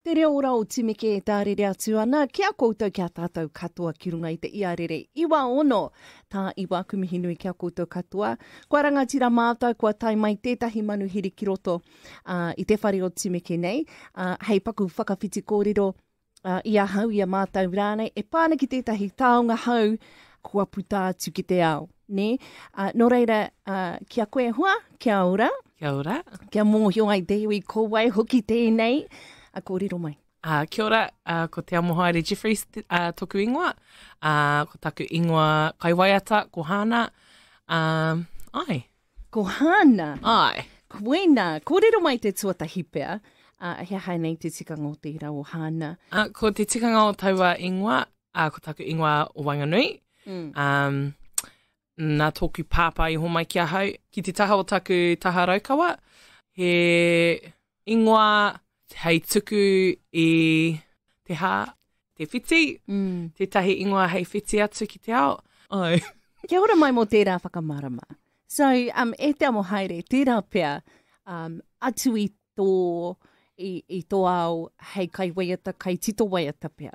Te reo ora o Timeke e tārere atu ana ki a koutou, ki a tātou katoa ki runga i te iarere iwa ono. Tā iwa, aku mihi nui ki a koutou katoa. Kua rangatira mātou, kua tae mai tētahi manuhiri ki roto ā, i te whare o Timeke nei, ā, hei paku whakawhiti kōrero ā, i ahau, i a mātou rānei, e pā ana ki tētahi taonga hou kua puta atu ki te ao, nē? Ā, nō reira, ā, ki a koe e hoa, kia ora. Kia ora. Kia mōhio ai te iwi ko wai hoki tēnei. A kōrero mai. Uh, kia ora, uh, ko Te Amohaere Jeffries uh, toku ingoa. Uh, ko taku ingoa kaiwaiata, ko Hāna. Um, ai. Ko Hāna? Ai. Koina, kōrero mai te tuatahi pea. Uh, he aha nei te tikanga o tērā o Hāna? Uh, ko te tikanga o taua ingoa, uh, ko taku ingoa o Wanganui. Mm. Um, Nā tōku pāpā i hōmai ki ahau ki te taha o taku taha Raukawa, he ingoa hei tuku i te hā, te whiti, tētahi ingoa hei whiti atu ki te ao. Āe. Kia ora mai mō tērā whakamārama. So, um, e te amo haere, tērā pea um, atu i tō, i, i tō ao hei kai waiata, kai tito waiata pea.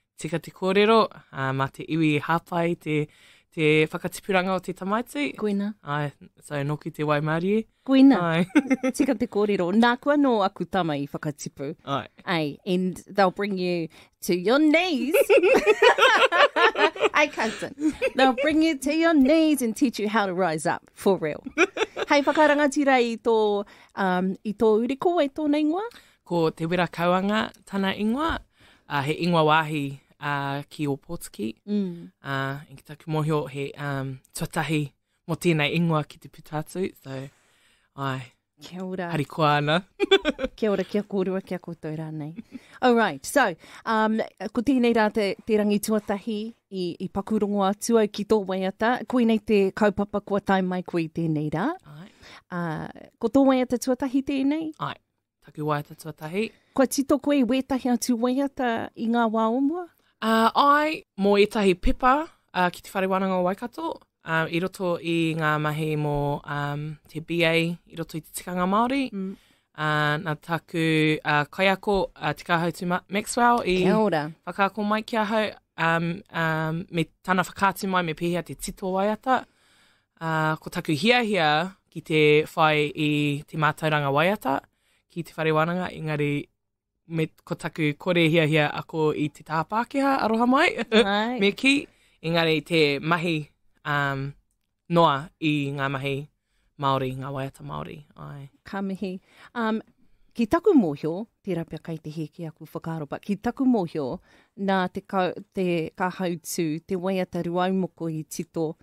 Tika te kōrero, ā, mā te iwi i hāpai te, te whakatipuranga o te tamaiti. Koina. Ai, so nōki te waimārie. Koina. Ai. Tika te kōrero. Nāku anō aku tama i whakatipu. Ai. Ai, and they'll bring you to your knees. Ai, cousin. They'll bring you to your knees and teach you how to rise up, for real. Hei whakarangatira i tō, um, i tō uri, ko wai tōna ingoa? Ko Te Wera Kauanga tana ingoa, uh, he ingoa wāhi uh, ki Ōpōtiki. Mm. Uh, ki taku mōhio, he um, tuatahi mō tēnei ingoa ki te puta atu. So, ai, Kia ora. Harikoa ana. kia ora, kia kōrua, kia koutou rānei. All right, so, um, ko tēnei rā te, te rangi tuatahi i, i pakurongo atu au ki tō waiata. Koinei te kaupapa kua tae mai koe i tēnei rā. Ai. Uh, ko tō waiata tuatahi tēnei? Ai. Takiwaiata tuatahi. Kua tito koe i wētahi atu waiata i ngā wā o mua? Uh, ai, mō ētahi pepa uh, ki te Whare Wānanga o Waikato, um, i roto i ngā mahi mō um, te BA i roto i te tikanga Māori. Mm. Uh, nā taku uh, kaiako, uh, Te Kāhautu Maxwell, i whakaako mai ki ahau um, um, me tana whakaatu mai me pēhea te tito waiata. Ā, ko taku hiahia ki te whai i te mātauranga waiata ki te whare wānanga, engari me, ko taku kore hiahia ako i te taha Pākehā, aroha mai, Hai. me kī, engari te mahi um, noa i ngā mahi Māori, ngā waiata Māori. Ai. Ka mihi. Um, ki taku mōhio, tērā pea kai te hē ki aku whakaaro, but ki taku mōhio, nā te, ka, te ka hautū, te waiata ruaumoko i tito,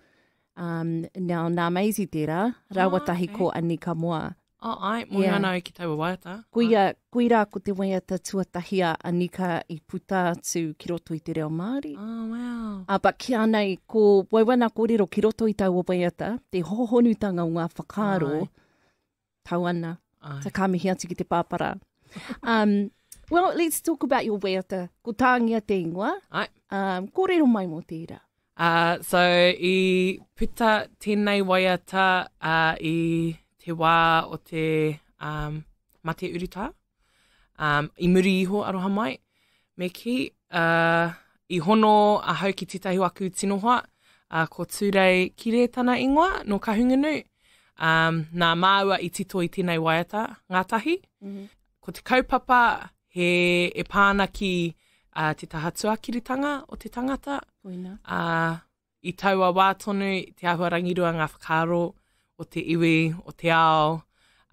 Um, now, nā Maisie tērā, rāua ah, tahi okay. ko Anika Moa. Oh, ai, mo yeah. ana au ki taua waiata. Kui, a, kui rā ko te waiata tuatahi a Anika i puta atu ki roto i te reo Māori. Oh, wow. Uh, but ki anei, ko wauana kōrero ki roto i taua waiata, te hohonutanga o ngā whakaaro, Ai. tau ana, Ai. ta ka mihi atu ki te pāpara. Um, well, let's talk about your wēata, ko tāngia te ingoa. Ai. Um, kōrero mai mō tērā. Uh, so, i puta tēnei waiata uh, i te wā o te um, mate urutā. Um, I muri iho, aroha mai, me ki. Uh, I hono ahau ki tētahi o aku tino hoa, uh, ko Tūrei Kire tana ingoa, no Kahungunu. Um, nā māua i tito i tēnei waiata, ngātahi. Mm -hmm. Ko te kaupapa he e pāna ki uh, te taha tuakiritanga o te tangata. Uina. Uh, I taua wā tonu, te āhua rangirua ngā whakaaro o te iwi, o te ao,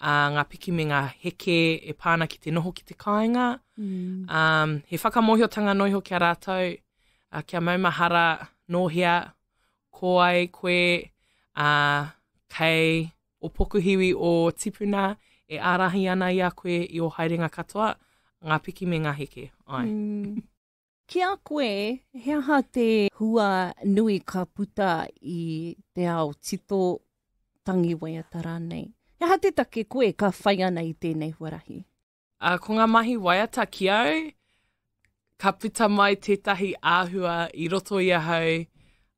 ā, ngā piki me ngā heke e pā ana ki te noho ki te kāinga. Ā, he whakamōhiotanga noa iho ki a rātou, ā, kia maumahara nō hea, ko ai koe, ā, kei ō pokuhiwi ō tipuna e ārahi ana i a koe i ō haerenga katoa, ngā piki me ngā heke. Āe. Ki a koe, he aha te hua nui ka puta i te ao tito tangi waiata rānei? He aha te take koe ka whai ana i tēnei huarahi? Uh, ko ngā mahi waiata ki au, ka puta mai tētahi āhua i roto i ahau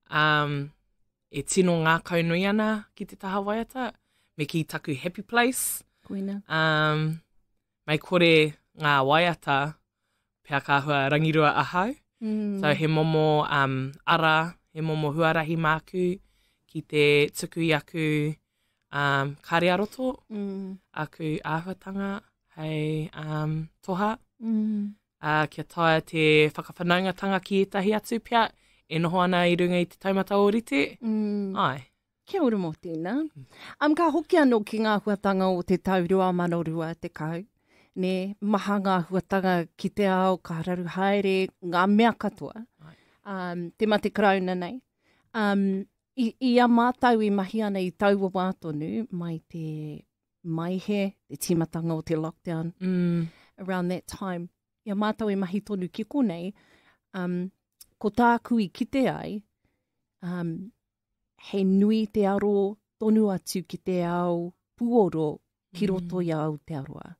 um, e tino ngākau nui ana ki te taha waiata, me ki taku happy place. Koina. Um, mai kore ngā waiata, pea ka hua rangirua ahau. Mm. So he momo um, ara, he momo huarahi māku ki te tuku i aku um, kāre a roto, mm. aku āhuatanga hei um, toha. Mm. Uh, kia taia te whakawhanaungatanga ki ētahi atu pea e noho ana i runga i te taumata o rite. Mm. Ai. Kia ora mo tena. Um, ka hoki ano ki nga huatanga o te tau 2020, ne, maha nga huatanga ki te ao ka raru haere nga mea katoa. Um, te mate karauna nei. Um, i, i a mātou i mahi ana i taua wā tonu, mai te maihe, te tīmatanga o te lockdown, mm. around that time, i a mātou i mahi tonu ki konei, um, ko tāku i kite ai, um, he nui te aro tonu atu ki te ao puoro ki mm. roto i a Aotearoa.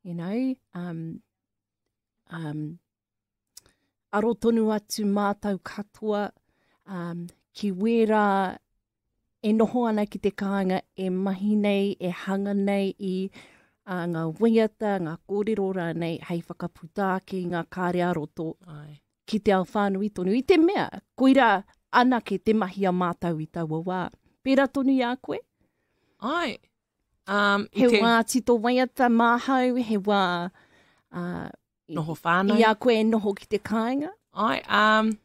You know, um, um, aro tonu atu mātau katoa um, ki wērā e noho ana ki te kāinga e mahi nei, e hanga nei i uh, ngā waiata, ngā kōrero rānei hei whakaputa ake i ngā kāre a roto. Ai. ki te ao whānui tonu, i te mea, koirā anake te mahi a mātou i taua wā. Pērā tonu i a koe? Ai. Um, he te... wā tito waiata māhau, he wā... Uh, noho whānau. I a koe e noho ki te kāinga? Ai, um,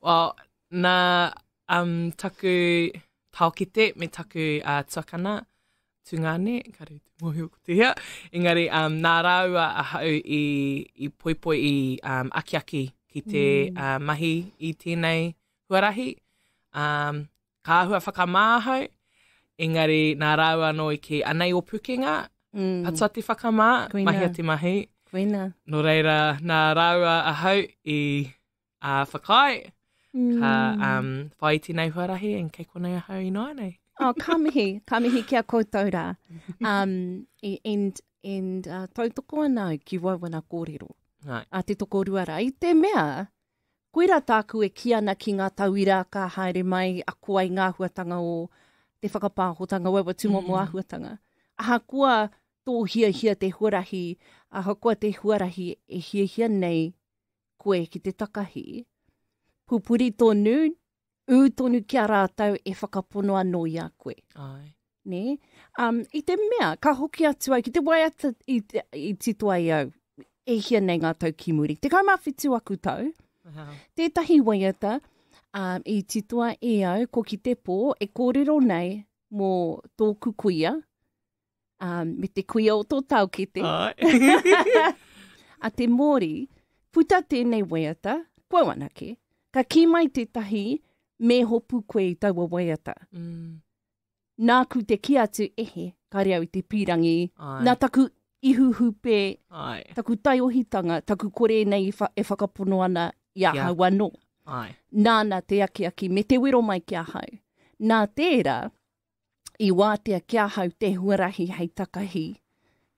well, na um, taku taokete me taku uh, tuakana, tungane, kare te mōhio ko te hea, engari um, nā rāua ahau i, i poipoi, i um, akiaki ki te mm. uh, mahi i tēnei huarahi. Um, ka ahua whakamā ahau, engari nā rāua anō i kei anei o pukenga, mm. patua te whakamā, Kuina. mahia te mahi. Kuina. Nō reira, nā rāua ahau i ā whakaae, ka mm. um, whai tēnei huarahi and kei konei ahau inoanei. oh, ka mihi, ka mihi ki a koutou rā. Um, and and uh, tautoko ana ki wauana kōrero. Right. A te toko rua rā. I te mea, koe rā tāku e ki ana ki ngā tauira ka haere mai a koa i ngā huatanga o te whakapāhotanga wawa tūmo mm. mo āhuatanga. Ahakoa tō hiahia te huarahi, ahakoa te huarahi e hiahia nei koe ki te takahi. Pupuri tonu, ū tonu ki a rātou e whakapono anō i a koe. Ai. Ne? Um, I te mea, ka hoki atu ai ki te waiata i, te, i tito ai au, e hia nei ngā tau ki muri. Te kaumā whitu aku tau, uh -huh. tētahi waiata um, i titoa e au ko ki te pō e kōrero nei mō tōku kuia, um, me te kuia o tō taukete. a te mōri, puta tēnei waiata, kua wanake, ka kī mai tētahi me hopu koe i taua waiata. Mm. Nāku te ki atu ehe, kare au te pīrangi, Ai. nā taku ihu hupe, Ai. taku taiohitanga, taku kore nei e whakapono ana i a hau anō. Ai. Nāna te akiaki me te wero mai ki a hau. Nā tērā, i wātea ki ahau te huarahi hei takahi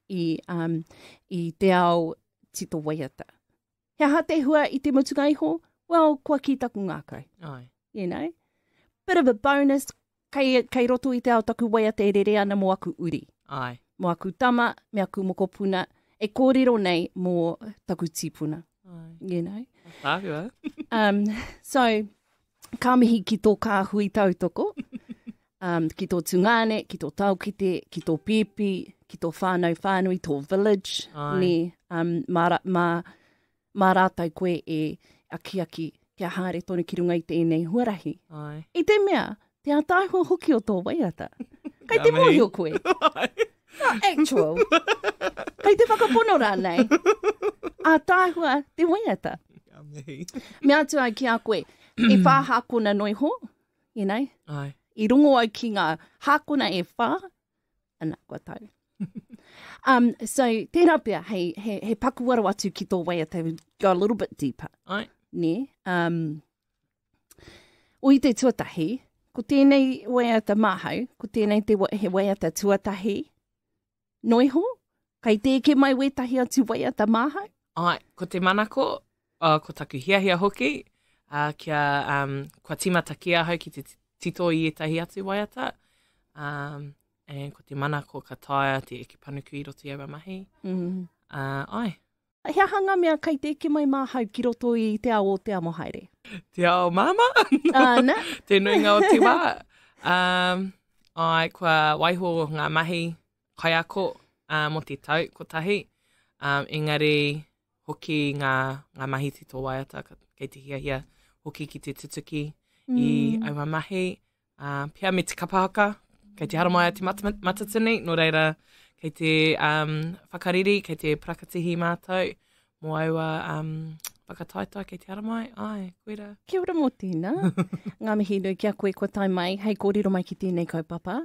i, um, i te ao tito waiata. He aha te hua i te mutunga iho? Well, kua ki taku ngākau. Ai. You know? Bit of a bonus, kei, kei roto i te ao taku waiata e rere ana mo aku uri. Ai. Mo aku tama, me aku mokopuna, e kōrero nei mō taku tīpuna. Ai. You know? Tāhua. um, so, Ka mihi ki tō kāhui tautoko, um, ki tō tungāne, ki tō taokite, ki tō pēpi, ki tō whānau whānui, tō village, Ai. ne, um, mā, mā, mā rātou koe e akiaki kia haere tonu ki runga i tēnei huarahi. Ai. I te mea, te ataahua hoki o tō waiata. Kei te mōhio koe. Not actual. Kei te whakapono rānei. A tāhua te waiata. Me atu ai ki a koe, e whā hākona no iho, you know? Ai. I rongo ai ki ngā hākona e whā, ana, kua tau. um, so, tērā pia, hei, he, he pakuaro atu ki tō waiata, go a little bit deeper. Ai. Ne? Um, O i te tuatahi, ko tēnei waiata māhau, ko tēnei te, he waiata tuatahi, no iho, kai tēke mai wētahi atu waiata māhau? Ai, ko te manako, uh, ko taku hiahia hoki, uh, kia, um, kua timata ki ahau ki te tito i etahi atu waiata, um, and ko te manako ka taia te eke panuku i roto i aua mahi. Mm. Uh, ai. He aha ngā mea kei te eke mai māhau ki roto i te ao o Te Amohaere? Te ao māma. Ana. te nuinga o te wā. Um, ai, kua waiho ngā mahi kaiako uh, mo te tau kotahi. Um, engari, hoki ngā, ngā mahi te tō waiata, kei te hiahia hoki ki te tutuki mm. i aua mahi. Uh, pia me te kapa haka, kei te haramai a te mat matatini, no reira, kei te um, whakariri, kei te prakatihi mātou, mō aua um, whakataetae kei te haramai, ai, koera. Kia ora mō tīna, ngā mihi nui kia koe kua tai mai, hei kōrero mai ki tēnei kaupapa.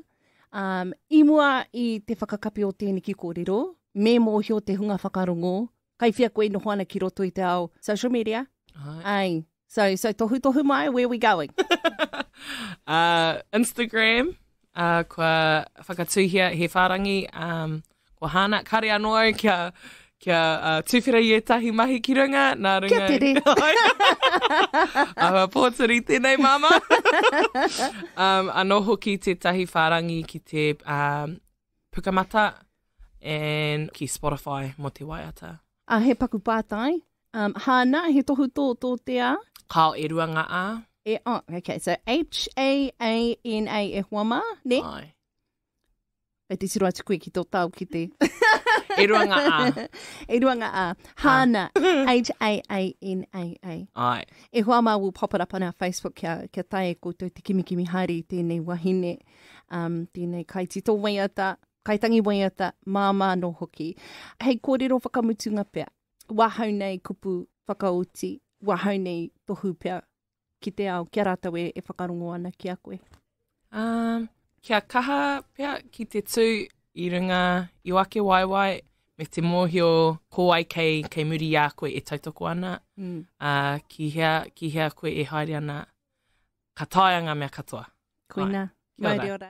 Um, I mua i te whakakapi o tēneki kōrero, me mōhio te hunga whakarongo, Kai whea koe e noho ana ki roto i te ao social media? Ai. Ai. So, so tohutohu mai, where are we going? uh, Instagram, uh, kua whakatuhia he whārangi, um, kua hāna, kare anō au kia, kia uh, tūwhera i ētahi mahi ki runga, nā runga... Kia tere! Ahua pōturi, tēnei māma! um, anō hoki tētahi whārangi ki te um, Pukamata and ki Spotify mo te waiata. A, he paku pātai. Um, hāna, he tohu tō, tō te a? Kao e rua ngā a. E, oh, okay, so H-A-A-N-A e hoa mā, ne? Ai. E te tiro atu koe ki tō tau ki te... E rua ngā a. e rua ngā a. Hāna, H-A-A-N-A-A. Ai. E hoa mā, we'll pop it up on our Facebook kia, kia tae e koutou te kimikimi haere i tēnei wahine. um, tēnei kaitito waiata, kaitangi waiata, māmā anō hoki. Hei kōrero whakamutunga pea, wahau nei kupu whakaoti, wahau nei tohu pea ki te ao, kia rātou e, e whakarongo ana ki a koe? Um, kia kaha pea ki te tū i runga i o ake waewae, me te mōhio ko wai kei, kei muri i a koe e tautoko ana, mm. a, ki, hea, ki hea koe e haere ana, ka taea ngā mea katoa. Koina, mai ora.